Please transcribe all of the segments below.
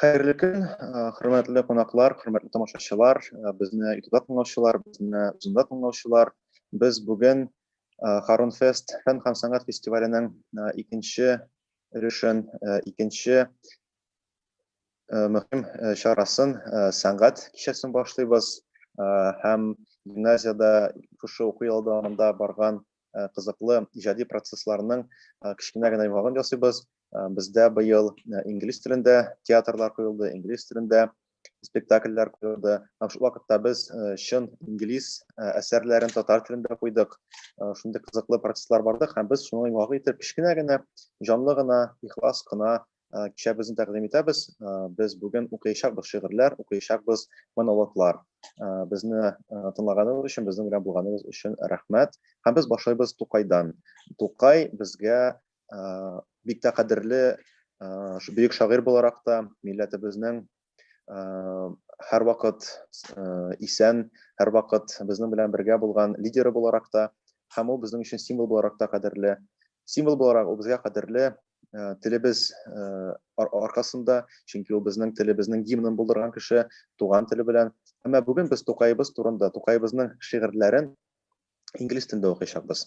Хәерле көн, хөрмәтле кунаклар, хөрмәтле тамашачылар, безне ютубта тыңлаучылар, безне зумда тыңлаучылар. Без бүген Харун Фест фән һәм сәнгать фестиваленең икенче өлешен, икенче мөһим чарасын, сәнгать кичәсен башлыйбыз. Һәм гимназиядә шушы уку елы дәвамында барган кызыклы иҗади процессларның кечкенә генә йомгагын ясыйбыз. Э, бездә быел э, инглиз телендә театрлар куелды инглиз телендә спектакльләр куелды һәм шул вакытта без э, чын инглиз әсәрләрен татар телендә куйдык шундый кызыклы процесслар бардык һәм без шуны йомгак итеп кечкенә генә җанлы гына ихлас кына кичәбезне тәкъдим итәбез без бүген укыячакбыз шигырьләр укыячакбыз монологлар безне тыңлаганыгыз өчен безнең белән булганыгыз өчен рәхмәт һәм без башлыйбыз тукайдан тукай безгә бик тә кадерле бөек шагыйрь буларак та милләтебезнең һәрвакыт исән, һәрвакыт безнең белән бергә булган лидеры буларак та һәм ул безнең өчен символ буларак та кадерле. Символ буларак ул безгә кадерле телебез аркасында, чөнки ул безнең телебезнең гимнын булдырган кеше, туган теле белән. Әмма бүген без Тукаебыз турында, Тукаебызның шигырьләрен инглиз телендә укыячакбыз.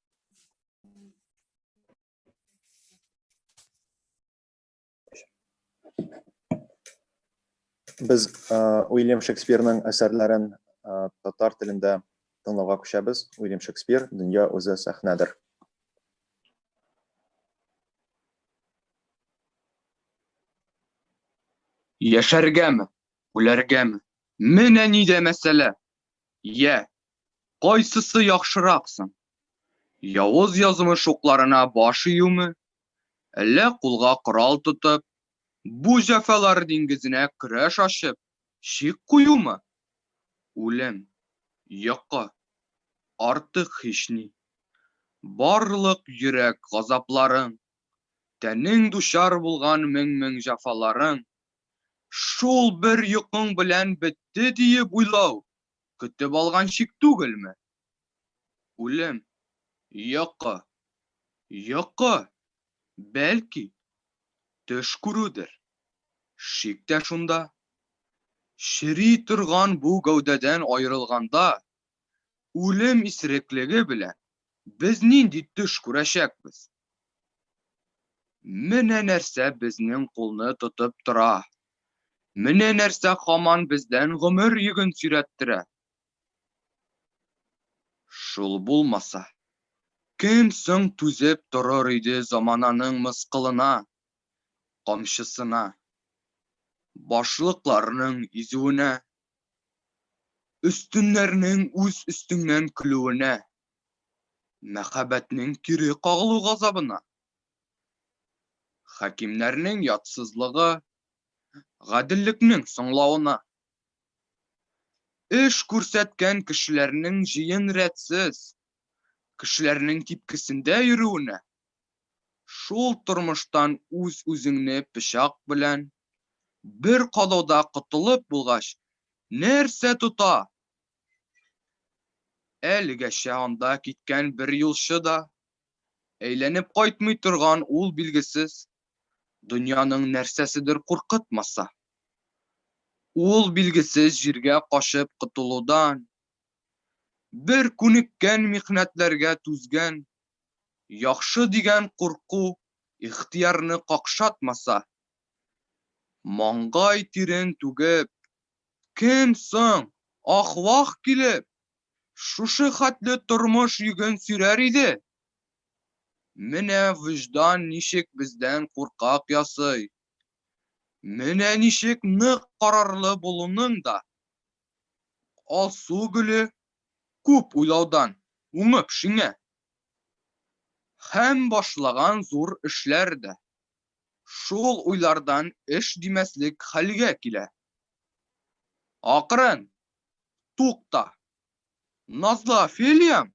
Без Уильям Шекспирның әсәрләрен татар телендә тыңлауга күчәбез. Уильям Шекспир, Дөнья үзе сәхнәдер. Яшәргәме, үләргәме? Менә нидә мәсьәлә! Йә, кайсысы яхшырак соң? Явыз язмыш укларына баш июме, әллә кулга корал тотып, бу җәфалар диңгезенә көрәш ачып, чик куюмы? Үлем, йокы, артык һични. Барлык йөрәк газапларың, тәнең дучар булган мең-мең җәфаларың Шул бер йокың белән бетте диеп уйлау көтеп алган чик түгелме? Үлем, йокы, йокы, бәлки, төш күрүдер. Шик тә шунда. Чери торган бу гәүдәдән аерылганда, үлем исереклеге белән без нинди төш күрәчәкбез? Менә нәрсә безнең кулны тотып тора. Менә нәрсә хаман бездән гомер йөген сөйрәттерә. Шул булмаса, кем соң түзеп торыр иде замананың мыскылына, камчысына, башлыкларның изүенә, өстеннәрнең үз өстеңнән көлүенә? мәхәббәтнең кире кагылу газабына, хакимнәрнең ятсызлыгы, гаделлекнең соңлавына, эш күрсәткән кешеләрнең җыен рәтсез, кешеләрнең типкесендә йөрүенә, шул тормыштан үз-үзеңне пычак белән бер кадауда котылып булгач, нәрсә тота, Әлегәчә анда киткән бер юлчы да, әйләнеп кайтмый торган ул билгесез дөньяның нәрсәседер куркытмаса. Ул билгесез җиргә качып котылудан, бер күнеккән михнәтләргә түзгән, яхшы дигән курку ихтыярны какшатмаса, маңгай тирен түгеп, Кем соң, ах-вах килеп, шушы хәтле тормыш йөген сөрәр иде? Менә вөҗдан ничек бездән куркак ясый. Менә ничек нык карарлы булуның да, Алсу гөле, күп уйлаудан уңып шиңә. Һәм башлаган зур эшләр дә шул уйлардан эш димәслек хәлгә килә. Акрын! Тукта! Назлы Офелиям,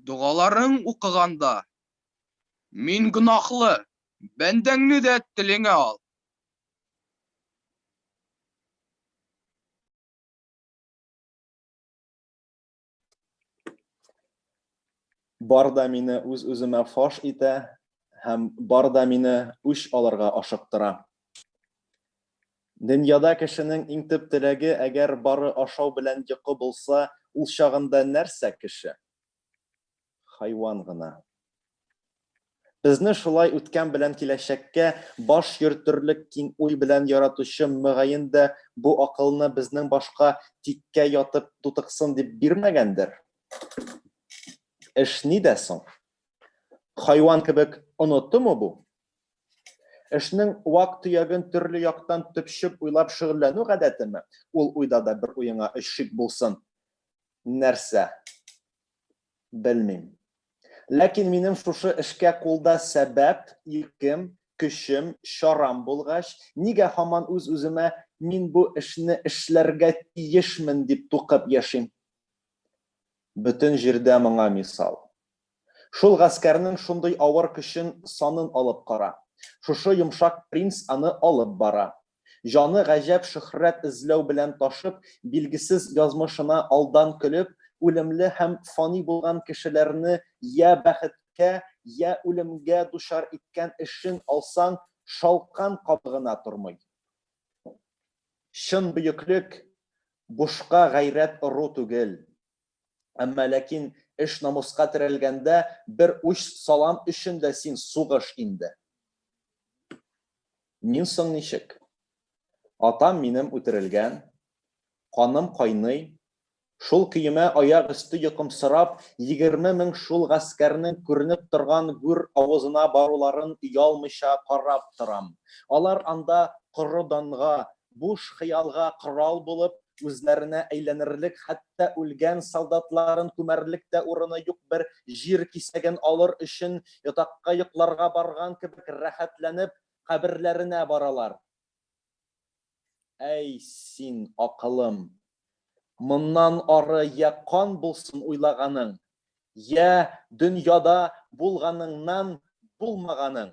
догаларың укыганда, мин гөнаһлы бәндәңне дә телеңә ал. Бар да мине үз-үземә фаш итә һәм бар да мине үч алырга ашыктыра. Дөньяда кешенең иң төп теләге, әгәр бары ашау белән йокы булса, ул чагында нәрсә кеше? хайван гына. Безне шулай үткән белән киләчәккә баш йөртерлек киң уй белән яратучы мөгаен дә бу акылны безнең башка тиккә ятып тутыксын дип бирмәгәндер. Эш нидә соң? Хайван кебек онытымы бу? Эшнең вак-төяген төрле яктан төпчеп уйлап шөгыльләнү гадәтеме? Ул уйда да бер уеңа өч шик булсын. нәрсә? Белмим. Ләкин минем шушы эшкә кулда сәбәп, иркем, көчем, чарам булгач, нигә һаман үз-үземә мин бу эшне эшләргә тиешмен дип тукып яшим? Бөтен җирдә моңа мисал. Шул гаскәрнең шундый авыр көчен санын алып кара. Шушы йомшак принц аны алып бара. Җаны гаҗәп шөһрәт эзләү белән ташып, билгесез язмышына алдан көлеп, үлемле һәм фани булган кешеләрне йә бәхеткә, йә үлемгә дучар иткән эшен алсаң, шалкан кабы гына тормый. Чын бөеклек, бушка гайрәт ору түгел, Әмма ләкин эш намуска терәлгәндә, бер уч салам өчен дә син сугыш инде. Мин соң ничек? Атам минем үтерелгән, каным кайный, шул көемә аяк өсте йокымсырап, егерме мең шул гаскәрнең күренеп торган гүр авызына баруларын оялмыйча карап торам. Алар анда коры данга буш хыялга корал булып, үзләренә әйләнерлек, хәтта үлгән солдатларын күмәрлек тә урыны юк бер җир кисәген алыр өчен, ятакка йокларга барган кебек рәхәтләнеп, каберләренә баралар. Әй син, акылым! Моннан ары йә кан булсын уйлаганың, йә дөньяда булганыңнан булмаганың!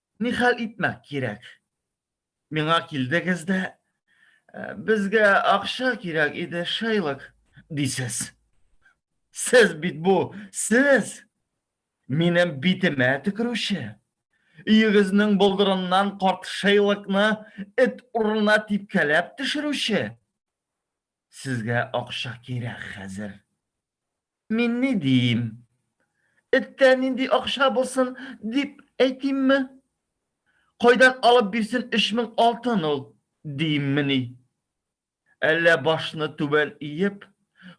Ни хәл итмәк кирәк? Миңа килдегез дә, безгә акча кирәк иде, Шейлок, дисез. Сез бит бу, сез! Минем битемә төкерүче. Өегезнең болдырыннан карт Шейлокны эт урынына типкәләп төшерүче. Сезгә акча кирәк хәзер. Мин ни диим? Эткә нинди акча булсын, дип әйтимме? Кайдан алып бирсен өч мең алтын ул, дииммени? Әллә башны түбән иеп,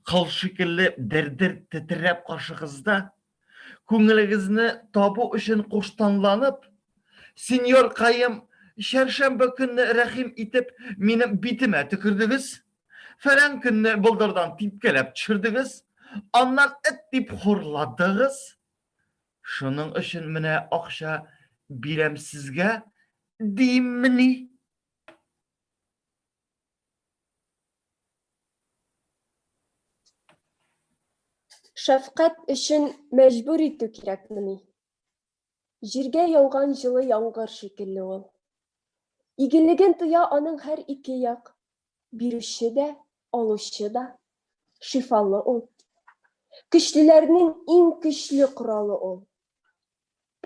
кыл шикелле дер-дер тетрәп каршыгызда Күңелегезне табу өчен куштанланып, сеньор Каем, чәршәмбе көнне рәхим итеп минем битемә төкердегез, фәлән көнне болдырдан типкәләп төшердегез, аннан эт дип хурладыгыз. Шуның өчен менә акча бирәм сезгә, диммени? Шәфкать өчен мәҗбүр итү кирәкмени? Җиргә яуган җылы яңгыр шикелле ул. Игелеген тоя аның һәр ике як, бирүче дә, алучы да. Шифалы ул. Көчлеләрнең иң көчле коралы ул.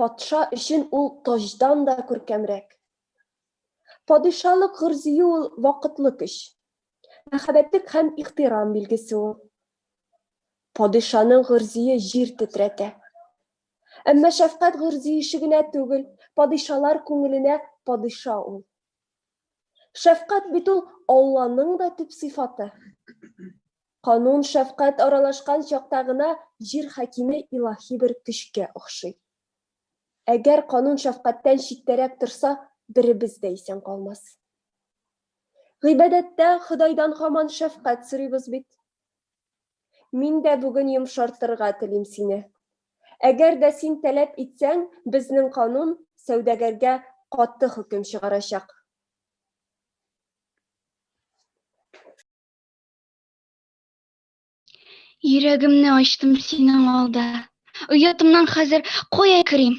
Патша өчен ул таҗдан да күркәмрәк, Падишалык гөрзие ул вакытлы көч. Мәхәббәтлек һәм ихтирам билгесе ул. Падишаның гөрзие җир тетрәтә. Әмма шәфкать гөрзиеше генә түгел, падишалар күңеленә падиша ул. Шәфкать бит ул Алланың да төп сыйфаты. Канун шәфкать аралашкан чакта гына җир хакиме илаһи бер көчкә охшый. Әгәр канун шәфкатьтән читтәрәк торса, беребез дә исән калмас. Гыйбадәттә Ходайдан хаман шәфкать сорыйбыз бит. Мин дә бүген йомшартырга телим сине. Әгәр дә син таләп итсәң, безнең канун сәүдәгәргә каты хөкем чыгарачак. Йөрәгемне ачтым синең алда. Оятымнан хәзер кая керим?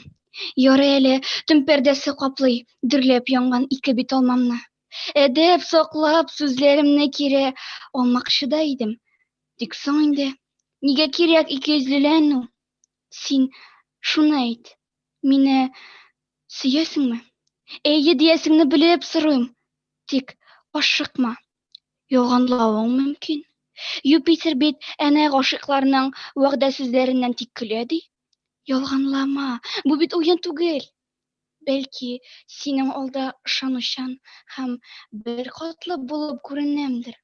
Ярый әле төн пәрдәсе каплый, дөрләп янган ике бит алмамны. Әдәп саклап, сүзләремне кире алмакчы да идем. Тик соң инде, нигә кирәк икейөзлеләнү? Син шуны әйт, мине сөясеңме? Әйе диясеңне белеп сорыйм. Тик ашыкма, Ялганлавың мөмкин. Юпитер бит әнә гашыйкларның вәгъдә сүзләреннән тик көлә ди. Ялганлама, бу бит уен түгел. Бәлки, синең алда ышанучан һәм бер катлы булып күренәмдер.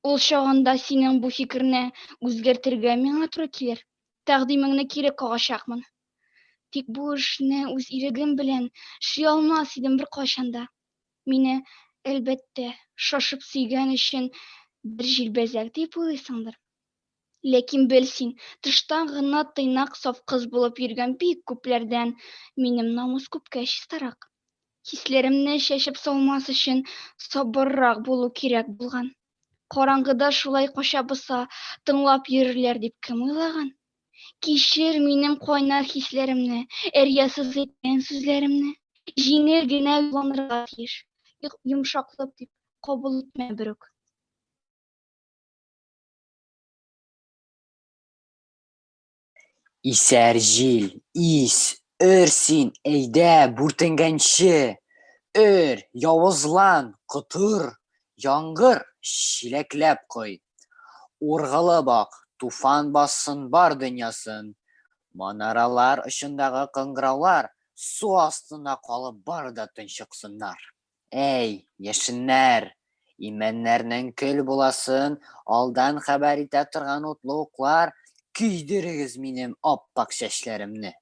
Ул чагында синең бу фикерне үзгәртергә миңа туры килер. Тәкъдимеңне кире кагачакмын. Тик бу эшне үз ирегем белән эшли алмас идем беркайчан да. Мине, әлбәттә, шашып сөйгән өчен бер җилбәзәк дип уйлыйсыңдыр. Ләкин бел син, тыштан гына тыйнак саф кыз булып йөргән бик күпләрдән минем намус күпкә чистарак. Хисләремне чәчеп салмас өчен сабыррак булу кирәк булган. Караңгыда шулай кача боса, тыңлап йөрерләр дип кем уйлаган? Кичер минем кайнар хисләремне, эрьясыз әйткән сүзләремне. Җиңел генә юлланырга тиеш, йомшаклык дип кабул итмә берүк. Исәр җил, ис, өр син, әйдә, бүртенгәнче! Өр, явызлан, котыр, яңгыр, чиләкләп кой! Ургылып ак, туфан бассын бар дөньясын! Манаралар очындагы кыңгыраулар су астына калып бары да тончыксыннар! Әй, яшеннәр! Имәннәрнең көл буласын алдан хәбәр итә торган утлы уклар, көйдерегез минем ап-ак чәчләремне!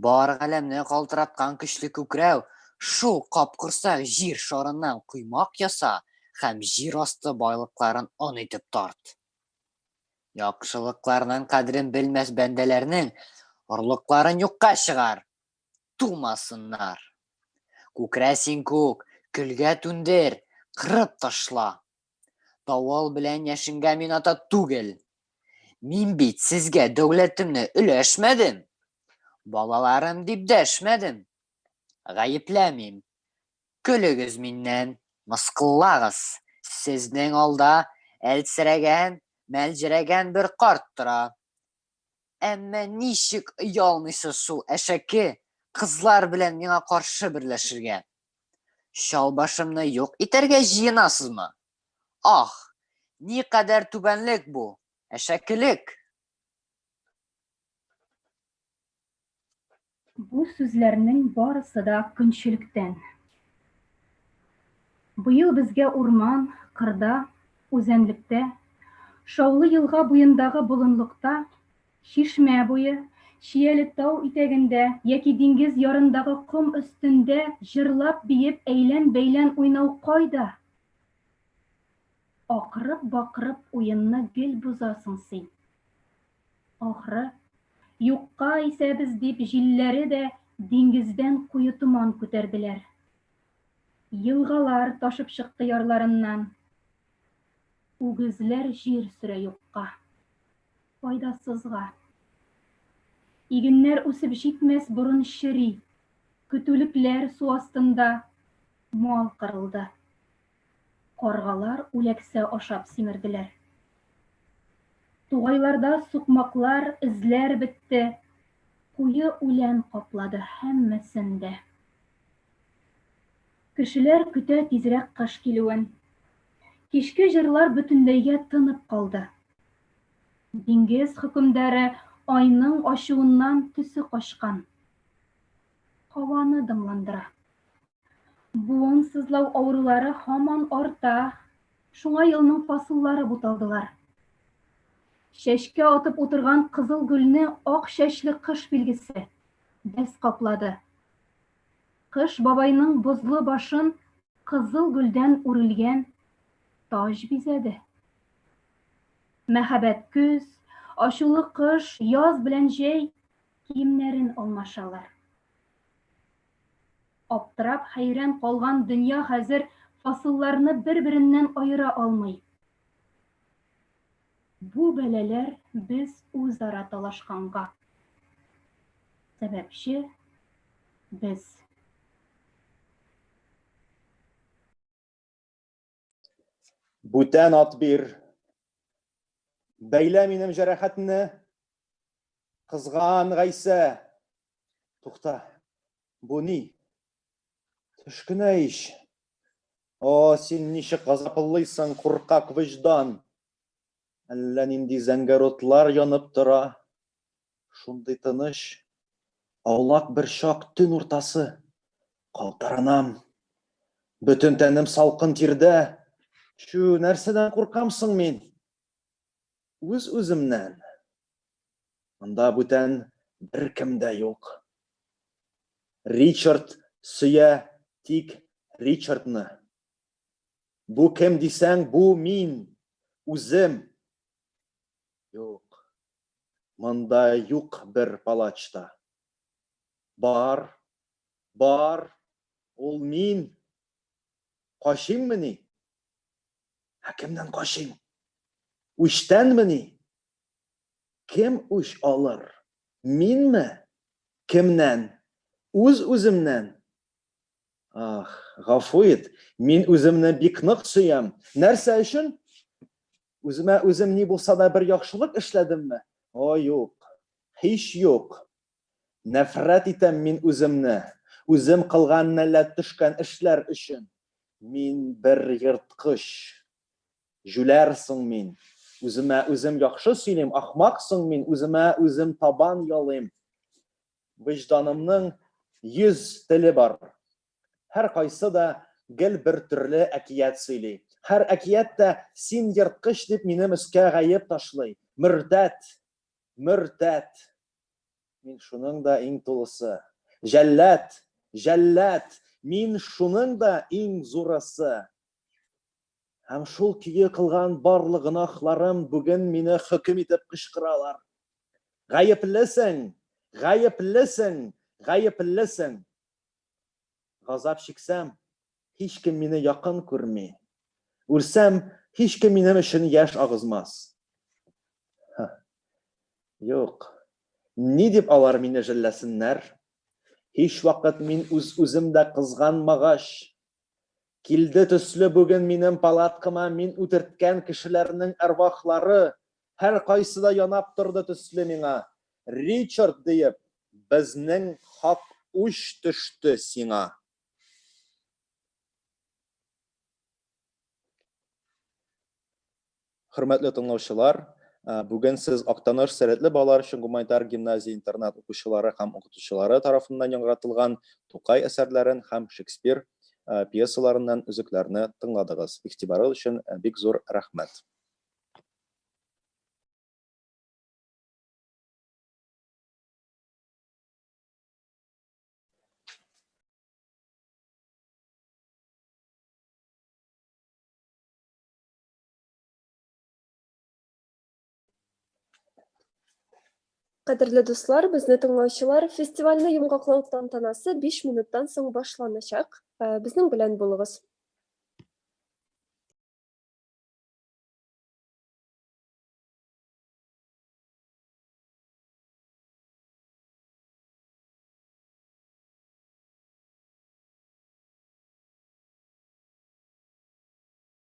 Бар галәмне калтыраткан көчле күкрәү, шул капкорсак җир шарыннан коймак яса һәм җир асты байлыкларын он итеп тарт! Яхшылыкларның кадерен белмәс бәндәләрнең орлыкларын юкка чыгар! тумасыннар. Күкрә син күк, көлгә түндер, кырып ташла. Давыл белән яшенгә мин ата түгел. Мин бит сезгә дәүләтемне өләшмәдем. Балаларым дип дәшмәдем. Гаепләмим. Көлегез миннән, мыскыллагыз. Сезнең алда әлсерәгән, мәлҗерәгән бер карт тора. Әмма ничек оялмыйсы шул әшәке кызлар белән миңа каршы берләшергә? Чалбашымны юк итәргә җыенасызмы? Ах, ни кадәр түбәнлек бу, әшәкелек! Бу сүзләрнең барысы да көнчелектән. Быел безгә урман, кырда, үзәнлектә, Шаулы елга буендагы болынлыкта, чишмә буе, чияле тау итәгендә яки диңгез ярындагы ком өстендә җырлап-биеп әйлән-бәйлән уйнау кайда? Акырып-бакырып уенны гел бозасың син. Ахры, юкка исәбез дип җилләре дә диңгездән куе томан күтәрделәр. Елгалар ташып чыкты ярларыннан. Үгезләр җир сөрә юкка. Файдасызга. Игеннәр үсеп җитмәс борын чери. Көтүлекләр су астында. Мал кырылды. Каргалар үләксә ашап симерделәр. Тугайларда сукмаклар, эзләр бетте. Куе үлән каплады һәммәсен дә. Кешеләр көтә тизрәк кыш килүен. Кичке җырлар бөтенләйгә тынып калды. Диңгез хөкемдары Айның ачуыннан төсе качкан. Һаваны дымландыра. Буын сызлау авырулары һаман арта. Шуңа елның фасыллары буталдылар. Чәчкә атып утырган кызыл гөлне ак чәчле кыш билгесе без каплады. Кыш бабайның бозлы башын кызыл гөлдән үрелгән таҗ бизәде. Мәхәббәт көз, ачулы кыш, яз белән җәй киемнәрен алмашалар. Аптырап, хәйран калган дөнья хәзер фасылларны бер-береннән аера алмый. Бу бәлаләр без үзара талашканга. Сәбәпче без. Бүтән ат бир. Бәйлә минем җәрәхәтне. Кызган Гайсә. Тукта. Бу ни? Төшкенә ич. О, син ничек газаплыйсың, куркак вөҗдан. Әллә нинди зәңгәр утлар янып тора. Шундый тыныч, аулак бер чак төн уртасы. Калтыранам. Бөтен тәнем салкын тирдә. Чү, нәрсәдән куркам соң мин? Үз-үземнән. Монда бүтән беркем дә юк. Ричард сөя тик Ричардны. Бу кем дисәң, бу мин, үзем. Юк. Монда юк бер палач та. Бар. Бар. Ул мин. Качыйммыни? Ә кемнән качыйм? Үчтәнмени? Кем үч алыр? Минме? Кемнән? Үз-үземнән? Ах, гафу ит, мин үземне бик нык сөям. Нәрсә өчен? Үземә үзем ни булса да бер яхшылык эшләдемме? О, юк. Һич юк. Нәфрәт итәм мин үземне. Үзем кылган нәләт төшкән эшләр өчен. Мин бер ерткыч. Җүләр соң мин. Үземә үзем яхшы сөйлим, ахмак соң мин, үземә үзем табан ялыйм. Вөҗданымның йөз теле бар. Һәркайсы да гел бер төрле әкият сөйли. Һәр әкият тә син ерткыч дип минем өскә гаеп ташлый. Мөртәт! Мөртәт! Мин шуның да иң тулысы. Җәллад! Җәллад! Мин шуның да иң зурысы. Һәм шул көе кылган барлык гөнаһларым бүген мине хөкем итеп кычкыралар. Гаеплесең, гаеплесең, гаеплесең. Газап чиксәм, һич кем мине якын күрми. Үлсәм, һич кем минем өчен яшь агызмас. Юк. Ни дип алар мине җилләсеннәр? Һич вакыт мин үз-үзем дә кызганмагач, Килде төсле бүген минем палаткама мин үтерткән кешеләрнең әрвахлары, һәркайсы да янап торды төсле миңа, Ричард диеп, безнең хак үч төште сиңа. Хөрмәтле тыңлаучылар, бүген сез Актаныш сәләтле балалар өчен гуманитар гимназия-интернат укучылары һәм укытучылары тарафыннан яңгыратылган Тукай әсәрләрен һәм Шекспир пьесаларыннан өзекләрне тыңладыгыз. Игътибарыгыз өчен бик зур рәхмәт! Кадерле дуслар, безне тыңлаучылар, фестивальне йомгаклау тантанасы 5 минуттан соң башланачак. Э, безнең белән булыгыз.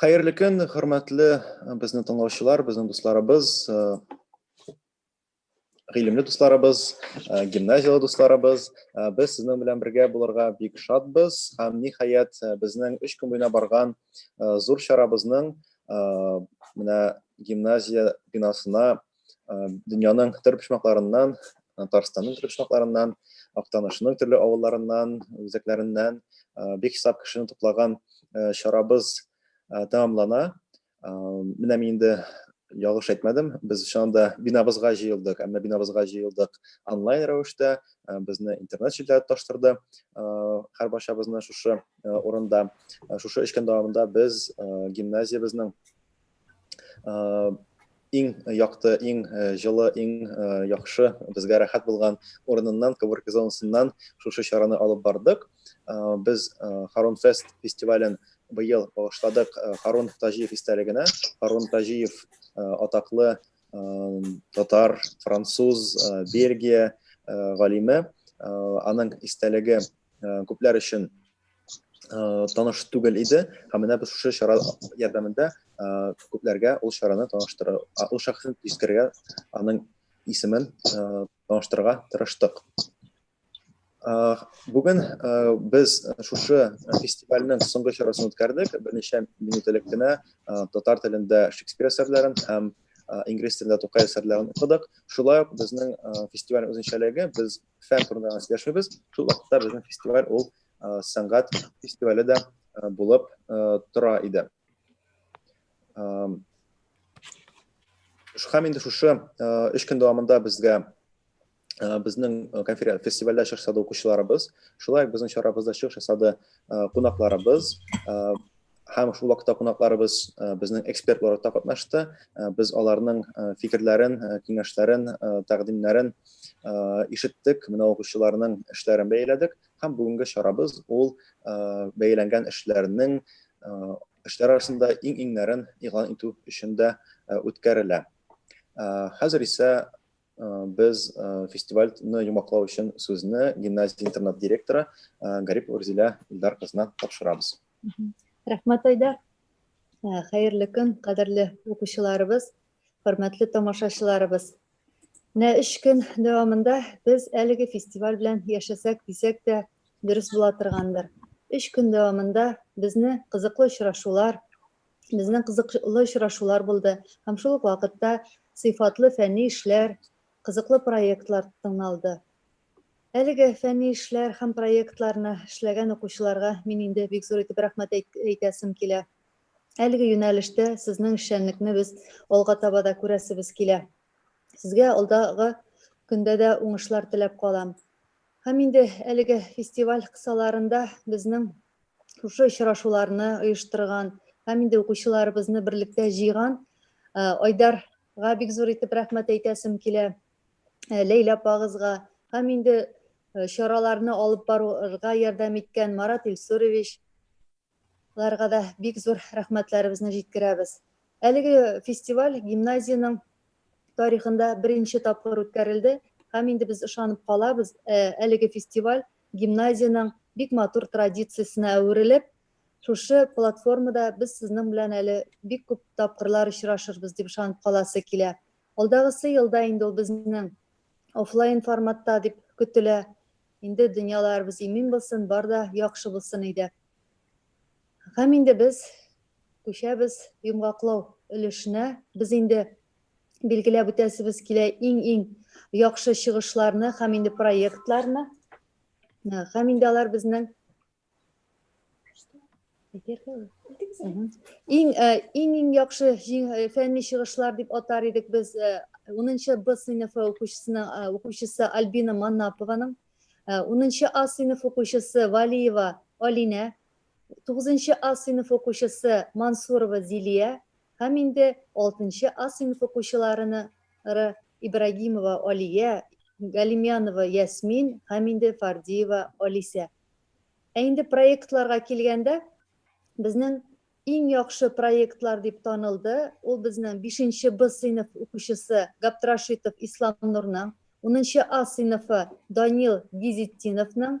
Хәерле көн, хөрмәтле э, безнең тыңлаучылар, безнең дусларыбыз, э, гыйлемле дусларыбыз, э, гимназияле дусларыбыз. Без сезнең белән бергә булырга бик шатбыз һәм ниһаять безнең 3 көн буена барган зур чарабызның менә гимназия бинасына дөньяның төрле почмакларыннан татарстанның төрле почмакларыннан актанышның төрле авылларыннан үзәкләреннән бик сап кешене туплаган чарабыз тәмамлана менә мин инде ялгыш әйтмәдем без шунда бинабызга җыелдык әмма бинабызга җыелдык онлайн рәвештә безне интернет челтәре тоташтырды һәр барчабызны шушы урында шушы эш көн дәвамында без гимназиябезнең иң якты, иң җылы, иң яхшы, безгә рәхәт булган урыныннан, коворкинг зонасыннан шушы чараны алып бардык. Без Харун Фест фестивален быел багышладык Харун Таҗиев истәлегенә. Харун Таҗиев атаклы татар, француз, Бельгия галиме. Аның истәлеге күпләр өчен Э, таныш түгел иде һәм менә без шушы чара ярдәмендә э, күпләргә ул чараны таныштыра ул шәхесне искәргә аның исемен э, таныштырырга тырыштык бүген без шушы фестивальнең соңгы чарасын үткәрдек берничә минут элек кенә татар телендә шекспир әсәрләрен һәм инглиз телендә тукай әсәрләрен укыдык шулай ук безнең фестиваль үзенчәлеге без фән турында гына сөйләшмибез шул вакытта безнең фестиваль ул сәнгать фестивале дә булып тора иде һәм инде шушы өч көн дәвамында безгә безнең конференция фестивальдә чыгыш ясады укучыларыбыз шулай ук безнең чарабызда чыгыш ясады кунакларыбыз һәм шул вакытта кунакларыбыз безнең эксперт буларак та катнашты. Без аларның фикерләрен, киңәшләрен, тәкъдимнәрен ишеттек, менә укучыларның эшләрен бәяләдек һәм бүгенге чарабыз ул бәяләнгән эшләрнең эшләр арасында иң-иңнәрен игълан итү өчен дә үткәрелә. Хәзер исә Без фестивальне йомаклау өчен сүзне гимназия интернат директоры Гарип Урзилә Илдар кызына тапшырабыз. Рәхмәт, Айдар. Хәерле көн, кадерле укучыларыбыз, хөрмәтле тамашачыларыбыз. Менә өч көн дәвамында без әлеге фестиваль белән яшәсәк дисәк тә дөрес була торгандыр. Өч көн дәвамында безне кызыклы очрашулар, безнең кызыклы очрашулар булды һәм шул ук вакытта сыйфатлы фәнни эшләр, кызыклы проектлар тыңлалды. Әлеге фәнни эшләр һәм проектларны эшләгән укучыларга мин инде бик зур итеп рәхмәт әйтәсем килә. Әлеге юнәлештә сезнең эшчәнлекне без алга таба да күрәсебез килә. Сезгә алдагы көндә дә уңышлар теләп калам. Һәм инде әлеге фестиваль кысаларында безнең шушы очрашуларны оештырган һәм инде укучыларыбызны берлектә җыйган Айдарга бик зур итеп рәхмәт әйтәсем килә. Ләйлә апагызга һәм инде чараларны алып барырга ярдәм иткән Марат Илсурович ларга да бик зур рәхмәтләребезне җиткерәбез. Әлеге фестиваль гимназиянең тарихында беренче тапкыр үткәрелде һәм инде без ышанып калабыз, әлеге фестиваль гимназиянең бик матур традициясенә әверелеп, шушы платформада без сезнең белән әле бик күп тапкырлар очрашырбыз дип ышанып каласы килә. Алдагысы елда инде ул безнең офлайн форматта дип көтелә. Инде дөньяларыбыз имин булсын, бар да яхшы булсын иде. Һәм инде без күчәбез йомгаклау өлешенә. Без инде билгеләп үтәсебез килә иң-иң яхшы чыгышларны һәм инде проектларны. Һәм инде алар безнең иң иң иң яхшы фәнни чыгышлар дип атар идек без 10-нчы Б сыйныфы укучысының укучысы Альбина Маннапованың 10-нчы А сыйныф укучысы Валиева Алинә 9-нчы А сыйныф укучысы Мансурова Зилия һәм инде алтынчы А сыйныф укучыларына ры, Ибрагимова Алия, Галимянова Ясмин һәм инде Фардиева Алисә. Ә инде проектларга килгәндә, безнең иң яхшы проектлар дип танылды, ул безнең бишенче Б сыйныф укучысы Габдрашитов Исламнурның, унынчы А сыйныфы Данил Гизетдиновның,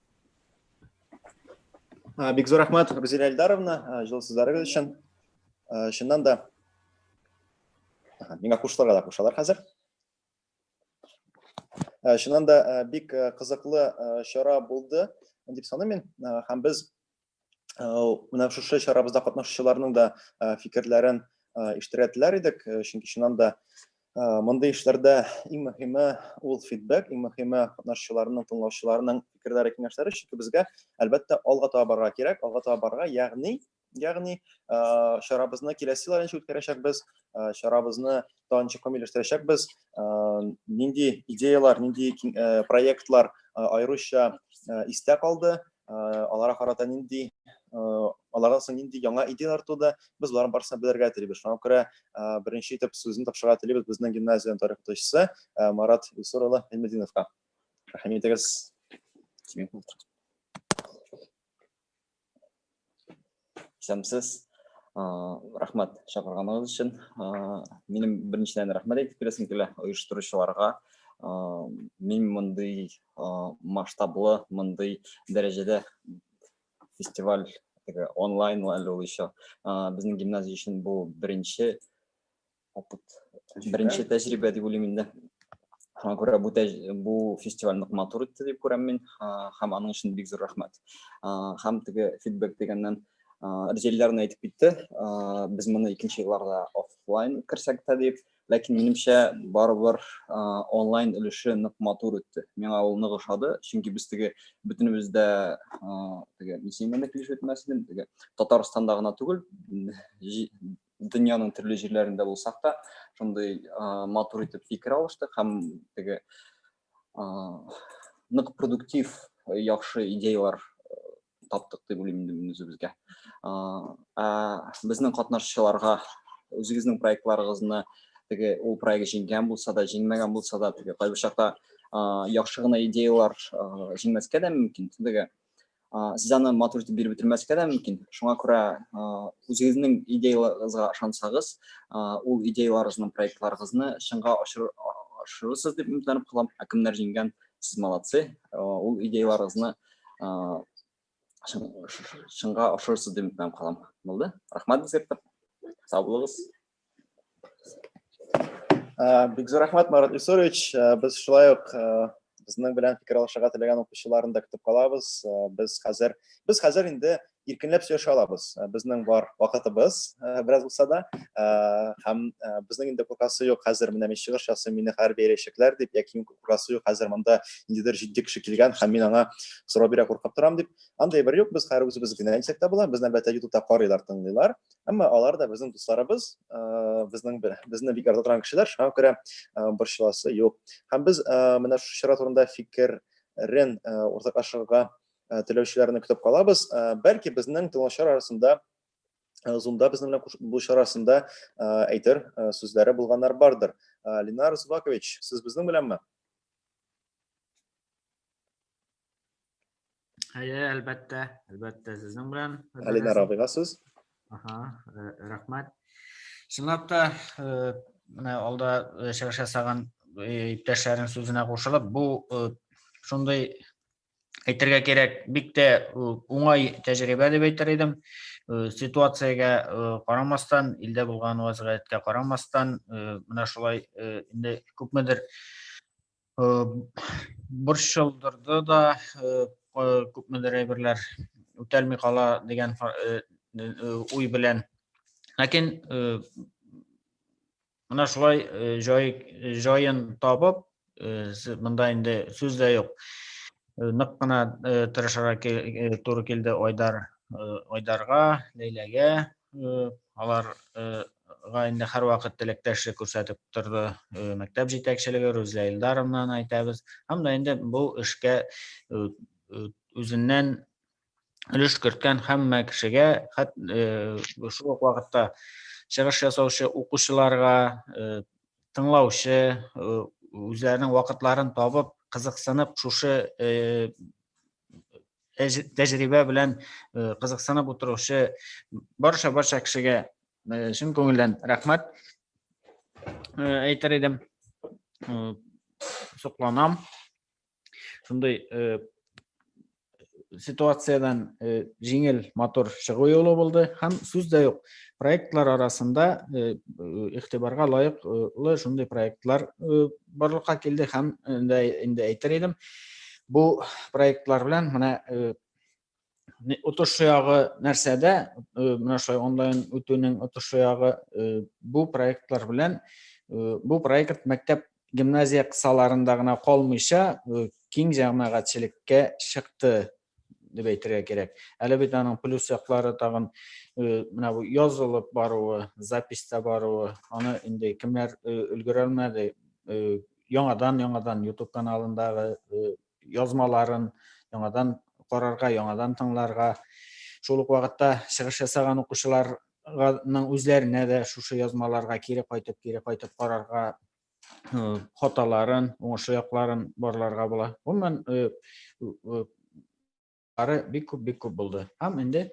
бик зур рәхмәт гүзәл әлдаровна җылы сүзләрегез өчен чыннан да миңа кушылырга да кушалар хәзер чыннан да бик кызыклы чара булды дип саныйм мин һәм без менә шушы чарабызда катнашучыларның да фикерләрен ишетергә теләр идек, чөнки чыннан да мондый эшләрдә иң мөһиме ул фидбэк, иң мөһиме катнашучыларның, тыңлаучыларның фикерләре, киңәшләре, чөнки безгә, әлбәттә, алга таба барырга кирәк, алга таба барырга, ягъни, ягъни чарабызны киләсе еллар ничек үткәрәчәкбез, чарабызны тагын ничек камилләштерәчәкбез, нинди идеялар, нинди проектлар аеруча истә калды, аларга карата нинди аларга соң нинди яңа идеяләр туды без боларның барысын белергә телибез шуңа күрә беренче итеп сүзне тапшырырга телибез безнең гимназиянең тарих укытучысы марат илсур улы гыйльметдиновка рәхим итегез Исәмсез. Рәхмәт чакырганыгыз өчен. Минем беренчедән рәхмәт әйтеп керәсем килә оештыручыларга. Мин мондый масштаблы, мондый дәрәҗәдә фестиваль онлайн әле ул еще. Безнең гимназия өчен бу беренче опыт беренче тәҗрибә дип уйлыйм инде шуңа күрә бу бу фестиваль нык матур үтте дип күрәм мин һәм аның өчен бик зур рәхмәт һәм теге фидбэк дигәннән ризелләрне әйтеп китте без моны икенче елларда офлайн үткәрсәк тә дип ләкин минемчә барыбер онлайн өлеше нык матур үтте миңа ул нык ошады чөнки без теге бөтенебез дә теге миссиямәндә килешеп үтмәсен теге татарстанда гына түгел дөньяның төрле җирләрендә булсак та шундый матур итеп фикер алыштык һәм теге нык продуктив яхшы идеялар таптык дип уйлыйм инде мин үзебезгә безнең катнашучыларга үзегезнең проектларыгызны теге ул проект җиңгән булса да җиңмәгән булса да теге кайбер чакта яхшы гына идеялар җиңмәскә дә мөмкин теге сез аны матур итеп биреп бетермәскә дә мөмкин шуңа күрә үзегезнең идеяларыгызга ышансагыз ул идеяларыгызны проектларыгызны чынга ашырырсыз дип өметләнеп калам ә кемнәр җиңгән сез молодцы ул идеяларыгызны чынга ашырырсыз дип өметләнеп калам булды рахмат бизгәктә сау булыгыз Бигзур рәхмәт, Марат Исурович. Без шулай ук безнең белән фикер алышырга теләгән укучыларны да көтеп калабыз. Без хәзер без хәзер инде иркенләп сөйләшә алабыз. Безнең бар вакытыбыз бераз булса да, һәм безнең инде куркасы юк. Хәзер менә мин чыгыш ясыйм, мине хәер бәяләячәкләр дип, яки мин куркасы юк, хәзер монда ниндидер җитди кеше килгән һәм мин аңа сорау бирә куркып торам дип. Андый бер юк, без хәер үзебез генә дисәк тә була. Безне әлбәттә ютубта карыйлар, тыңлыйлар. Әмма алар да безнең дусларыбыз, безнең безне бик ярата торган кешеләр, шуңа күрә борчыласы юк. Һәм без менә шушы чара турында фикерен уртаклашырга теләүчеләрне көтеп калабыз. Бәлки безнең тыңлаучылар арасында Zoom-да безнең белән булышу арасында әйтер сүзләре булганнар бардыр. Ленар Зубакович, сез безнең беләнме? Әйе, әлбәттә, әлбәттә сезнең белән. Әлинә Рабига сүз. Аха, э, рәхмәт. Чынлап та, э, менә алда э, чыгыш ясаган иптәшләрнең сүзенә кушылып, бу шундый әйтергә кирәк, бик тә уңай тәҗрибә дип әйтер идем. Ситуациягә карамастан, илдә булган вазгыятькә карамастан, менә шулай инде күпмедер борчылдырды да күпмедер әйберләр үтәлми кала дигән уй белән ләкин менә шулай җай җаен табып монда инде сүз дә юк нык кына тырышырга туры килде айдар айдарга ләйләгә алар га инде һәрвакыт теләктәшлек күрсәтеп торды мәктәп җитәкчелеге Рүзлә Илдаровнаны әйтәбез. Һәм дә инде бу эшкә үзеннән өлеш керткән һәммә кешегә, хәт шул ук вакытта чыгыш ясаучы укучыларга, тыңлаучы үзләренең вакытларын табып, кызыксынып шушы тәҗрибә белән э, кызыксынып утыручы барша барша кешегә э, чын күңелдән рәхмәт э, әйтер идем сокланам шундый ситуациядан җиңел матур чыгу юлы булды һәм сүз дә юк проектлар арасында игътибарга лаеклы шундый проектлар барлыкка килде һәм инде әйтер идем Бу проектлар белән менә отышы ягы нәрсәдә, менә шулай онлайн үтүнең отышы ягы бу проектлар белән бу проект мәктәп гимназия кысаларында гына калмыйча киң җәмәгатьчелеккә чыкты дип әйтергә кирәк. Әле бит аның плюс яклары тагын менә бу язылып баруы, записта баруы, аны инде кемнәр өлгерә алмады, яңадан яңадан ютуб каналындагы э, язмаларын яңадан карарга яңадан тыңларга шул ук вакытта чыгыш ясаган укучыларның үзләренә дә шушы язмаларга кире кайтып кире кайтып карарга э, хаталарын уңышлы якларын барларга була гомумән э, Ары бик күп бик күп булды. Һәм инде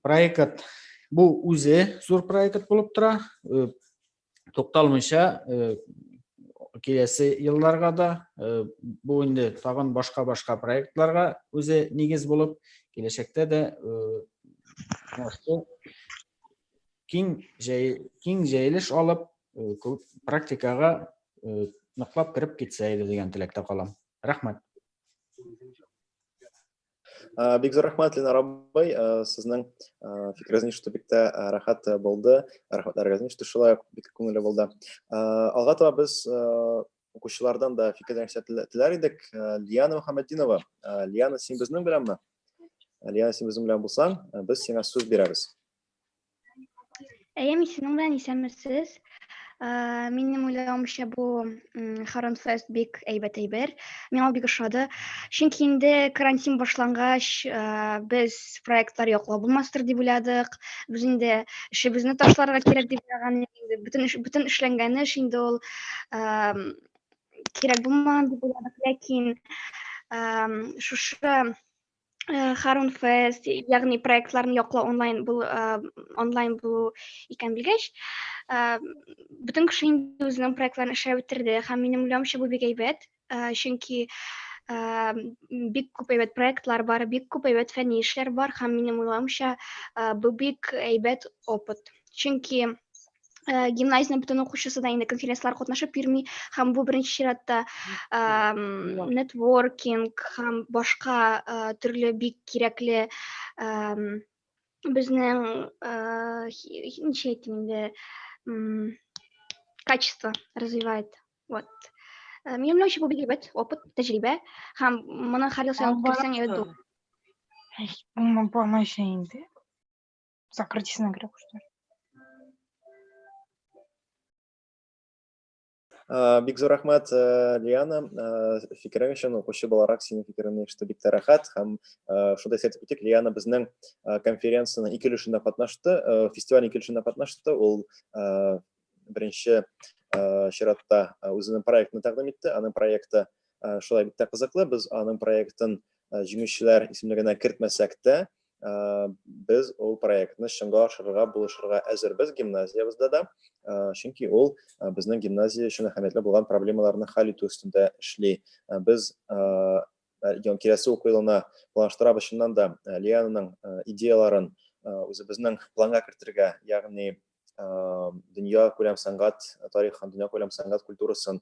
проект бу үзе зур проект булып тора. Э, тукталмыйча э, киләсе елларга да э, бу инде тагын башка-башка проектларга үзе нигез булып, киләчәктә дә киң киң җәелеш алып, практикага ныклап кереп китсә иде дигән теләктә калам. Рәхмәт. Э, бик зур рәхмәт ленар абый э, сезнең э, фикерегез ишетү бик тә рәхәт булды рәхмәтләрегезне ишетү шулай ук бик күңелле булды алга таба без укучылардан да фикерләр теләр идек лиана мөхәммәтдинова лиана син безнең беләнме лиана син безнең белән булсаң без сиңа сүз бирәбез Әйәм исемең белән исәнмесез. Э, минем уйлавымча бу Харон Фест бик әйбәт әйбер. Миңа бик ошады. Чөнки инде карантин башлангач, э, без проектлар яклау булмастыр дип уйладык. Без инде эшебезне ташларга кирәк дип уйлаган инде. Бөтен эш, бөтен эшләнгән эш инде ул э, кирәк булмаган дип уйладык. Ләкин шушы Э, Харун Фест, ягъни проектларын яклау онлайн бул э, онлайн булу икән белгәч, э, бөтен кеше инде үзенең проектларын эшләп бетерде һәм минем уйлавымча бу бик әйбәт, чөнки бик күп әйбәт проектлар бар, бик күп әйбәт фәнни эшләр бар һәм минем уйлавымча бу бик әйбәт опыт. Чөнки ә, гимназияның бөтен укучысы да инде конференциялар катнашып йөрми һәм бу беренче чиратта ә, нетворкинг һәм башка ә, төрле бик кирәкле ә, безнең ә, ничә әйтим инде качество развивает вот ә, минем уйлаучы бу бик әйбәт опыт тәҗрибә һәм моны һәр ел сайлап керсәң әйбәт булыр булмый инде Закрытись на игру, что ли? Э, бик зур рәхмәт э, Лиана э, фикерең өчен укучы буларак синең фикереңне ишетү бик тә рәхәт һәм шундый әйтеп үтик Лиана безнең конференциянең ике өлешендә катнашты фестиваль ике өлешендә катнашты ул беренче чиратта үзенең проектын тәкъдим итте аның проекты шулай бик тә кызыклы без аның проектын җиңүчеләр исемлегенә кертмәсәк тә без ул проектны чынга ашырырга булышырга әзербез гимназиябездә дә чөнки ул безнең гимназия өчен әһәмиятле булган проблемаларны хәл итү өстендә эшли без киләсе уку елына планлаштырабыз чыннан да лиананың идеяларын үзебезнең планга кертергә ягъни дөнья күләм сәнгать тарихын, дөнья күләм сәнгать культурасын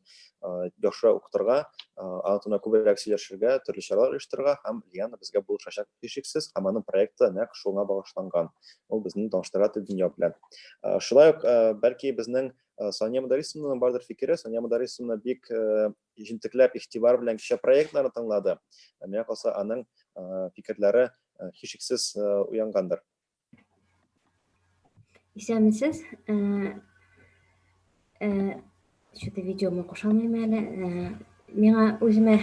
яхшы укытырга, аңа турында күбрәк сөйләшергә, төрле чаралар оештырырга һәм Лиана безгә булышачак һичшиксез һәм аның проекты нәкъ шуңа багышланган. Ул безне таныштыра тел дөнья белән. Шулай ук бәлки безнең Сания Мударисовнаның бардыр фикере, Сания Мударисовна бик җентекләп, игътибар белән кичә проектларны тыңлады. Миңа калса, аның фикерләре һичшиксез уянгандыр. Исәнмесез. Что-то видеома кушалмыйм әле. Миңа үземә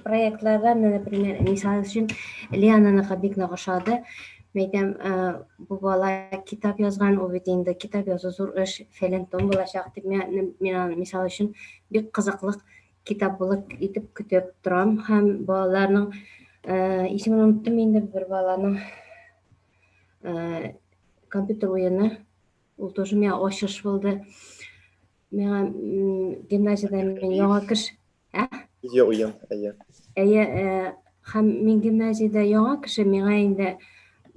проектларда, например, мисал өчен Лиананыка бик нык ошады. Мәйтәм, бу бала китап язган, ул бит инде китап язу зур эш, фәлән том булачак дип, миңа мисал өчен бик кызыклык китаплык итеп көтеп торам һәм балаларның э, исемен оныттым инде бер баланың э, компьютер уены ул тоже миңа ачыш булды миңа гимназияда мин яңа кеш ә видео уен әйе әйе э, Һәм Миңгемәҗидә яңа кеше миңа инде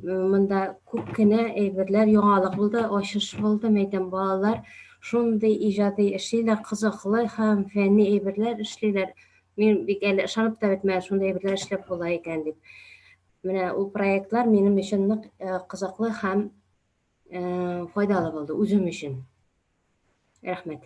монда күп кенә әйберләр яңалык булды, ачыш булды, мәйтәм балалар шундый иҗади эшлиләр, кызыклы һәм фәнни әйберләр эшлиләр. Мин бик әле ышанып та бетмәдем, шундый әйберләр эшләп була икән дип. Менә ул проектлар минем өчен нык э, кызыклы һәм э, файдалы булды үзем өчен. Рәхмәт.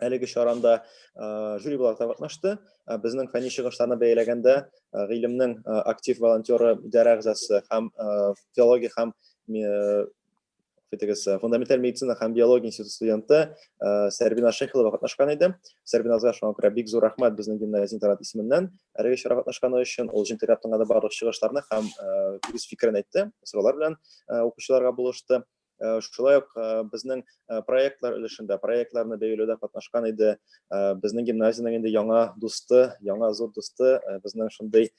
әлеге чаранда жюри буларак катнашты. Безнең фәнни чыгышларны бәяләгәндә гыйлемнең актив волонтеры идарә әгъзасы һәм филология һәм фитегес фундаменталь медицина һәм биология институты студенты Сәрбина Шехилова катнашкан иде. Сәрбина азга шуңа күрә бик зур рәхмәт безнең гимназия интернат исеменнән әлеге чара катнашканы өчен. Ул җентекләп тыңлады барлык чыгышларны һәм үз фикерен әйтте, сораулар белән укучыларга булышты. Э, шулай ук э, безнең э, проектлар өлешендә проектларны бәяләүдә катнашкан иде безнең гимназиянең инде яңа дусты яңа зур дусты безнең шундый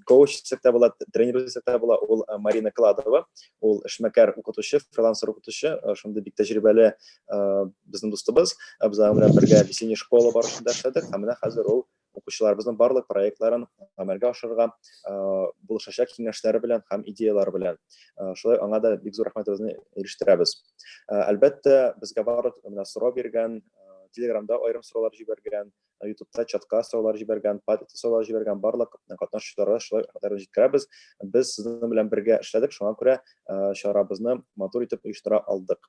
коуч дисәк тә була тренер дисәк тә була ул марина кладова ул эшмәкәр укытучы фрилансер укытучы шундый бик тәҗрибәле безнең дустыбыз без аның белән бергә весенний школа барышында эшләдек һәм менә хәзер ул укучыларыбызның барлык проектларын гамәлгә ашырырга булышачак киңәшләре белән һәм идеяләре белән. Шулай аңа да бик зур рәхмәтебезне ирештерәбез. Әлбәттә, безгә барлык менә сорау биргән, Телеграмда аерым сораулар җибәргән, Ютубта чатка сораулар җибәргән, Патрикта сораулар җибәргән барлык катнашучыларга шулай рәхмәтләребезне җиткерәбез. Без сезнең белән бергә эшләдек, шуңа күрә чарабызны матур итеп оештыра алдык.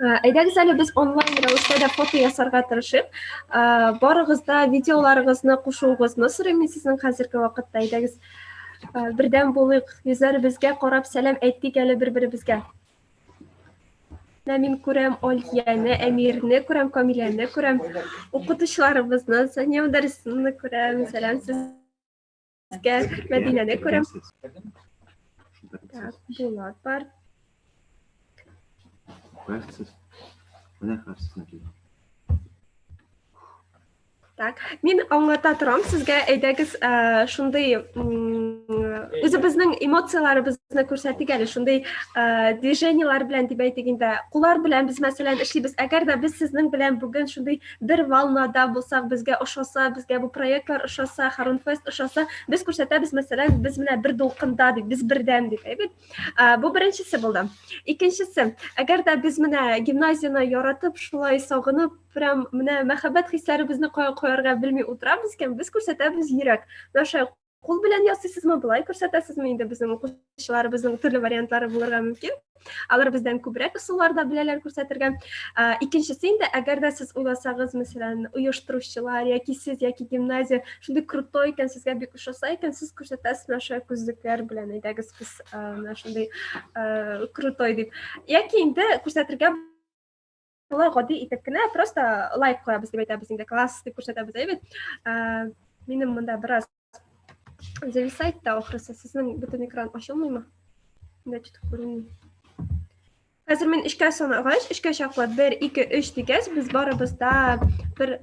Ә, әйдәгез әле без онлайн рәвештә дә фото ясарга тырышып, ә, барыгыз да видеоларыгызны кушуыгызны сорыйм мин сезнең хәзерге вакытта. Әйдәгез ә, бердәм булыйк, йөзләребезгә карап сәлам әйтик әле бер-беребезгә. Менә мин күрәм Алияне, Әмирне күрәм, Камиләне күрәм, укытучыларыбызны, Сания Мөдәррисовнаны күрәм. Сәлам сезгә. Кә, Мәдинә дә күрәм. Так, Булат бар. Хәсез. Менә хәсез Мәдинә. Так, мин аңлата торам сезгә, әйдәгез, ә, шундый үзебезнең эмоцияләребезне күрсәтик әле, шундый ә, движениеләр белән дип әйтик инде. Куллар белән без мәсәлән эшлибез. Әгәр дә без сезнең белән бүген шундый бер волнада булсак, безгә ошаса, безгә бу проектлар ошаса, Харунфест ошаса, без күрсәтәбез, мәсәлән, без менә бер дулкында дип, без бердән дип, әйбит. Бу беренчесе булды. Икенчесе, әгәр дә без менә гимназияне яратып, шулай сагынып, прям менә мәхәббәт хисләребезне кая куярга белми утырабыз икән, без күрсәтәбез йөрәк. Наша кул белән ясыйсызмы былай күрсәтәсезме инде безнең укучыларыбызның төрле вариантлары булырга мөмкин алар бездән күбрәк ысуллар да беләләр күрсәтергә ә, икенчесе инде әгәр дә сез уйласагыз мәсәлән оештыручылар яки сез яки гимназия шундый крутой икән сезгә бик ошаса икән сез күрсәтәсез менә шулай күзлекләр белән әйдәгез без ә, менә шундый ә, крутой дип яки инде күрсәтергә шулай гади итеп кенә просто лайк куябыз дип әйтәбез инде класс дип күрсәтәбез әй бит минем монда бераз зависает та ахрысы сезнең бөтен экран ачылмыймы мында чутып күренми хәзер мин өчкә санагач өчкә чаклы бер ике өч дигәч без барыбыз да бер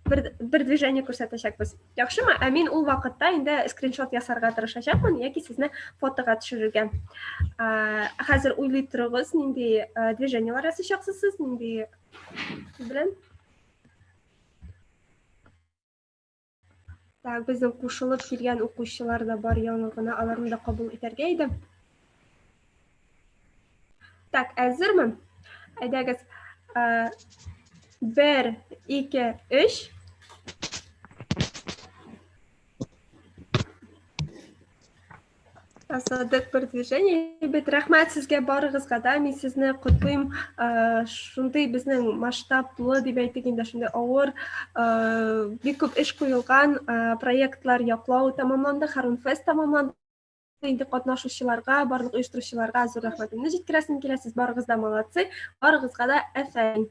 бер, бер движение күрсәтәчәкбез яхшымы ә мин ул вакытта инде скриншот ясарга тырышачакмын яки сезне фотога төшерергә хәзер уйлый торыгыз нинди движениелар ясыйчаксыз сез нинди белән Так, безнең кушылып килгән укучылар да бар яңа гына, аларны да кабул итәргә иде. Так, әзерме? Әйдәгез, э, бер, ике, өч. Асадык бер движение. Бит рәхмәт сезгә барыгызга да. Мин сезне котлыйм. Шундый безнең масштаблы дип әйтик инде шундый авыр бик күп эш куелган проектлар яклау тәмамланды, Харун фест тәмамланды. Инде катнашучыларга, барлык оештыручыларга зур рәхмәтемне җиткерәсем килә. Сез барыгыз да молодцы. Барыгызга да әфән.